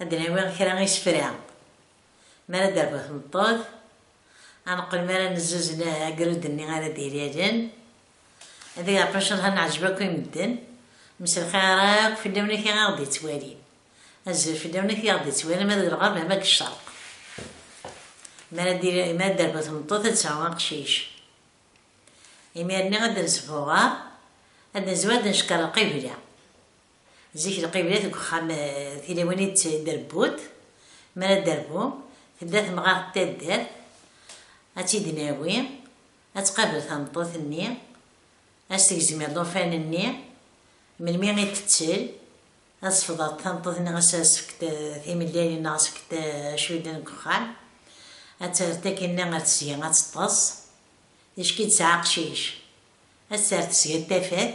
Ad d-nawi kra n isefra mi ara d-terbu tmeṭṭut, ad neqqel mi ara nezzuzen agrud-nni ara d-ilalen. Ad iliɣ incallah neɛjeb akk i medden. Mselxir akk fell-awen akk i aɣ-d-yettwalin. Azul fell-awen akk i aɣ-d-yettwalin ma deg lɣerb ama deg ccerq. Mi ara d-terbu tmeṭṭut ad tesɛu aqcic. Imir-nni ad d-nesbuɣer, ad d-nezwi ad d-neckeṛ lqibla. Zik lqibla deg uxxam tiliwin i d-trebbuḍ, mi ara d-terbu, tebda temɣart taddart ad tt-id-nawi, ad tqabel tameṭṭut-nni, ad s-tegzem iḍufan-nni, melmi i d-tettel, ad sefḍeḍ tameṭṭut-nni ass-a ad s-fkent timellalin neɣ ad s-fkent acudden deg uxxam, ad terr tagi-nni ar tesga ad teṭṭes, ticki tesɛa aqcic, ad terr tesga n tafat.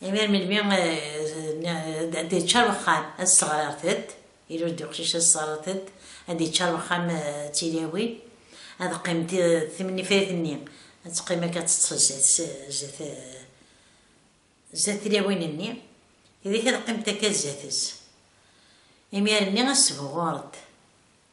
Imir melmi ad d-yeččar wexxam ad sseɣrartet, ilul-d uqcic ad sseɣrartet, ad d-yeččar wexxam d tilawin, ad qqim timennifrit-nni ad teqqim akka ad teṭṭes zdat tilawin-nni, tidak ad qqiment akka zdat-s, imir-nni ad sbuɣuṛent.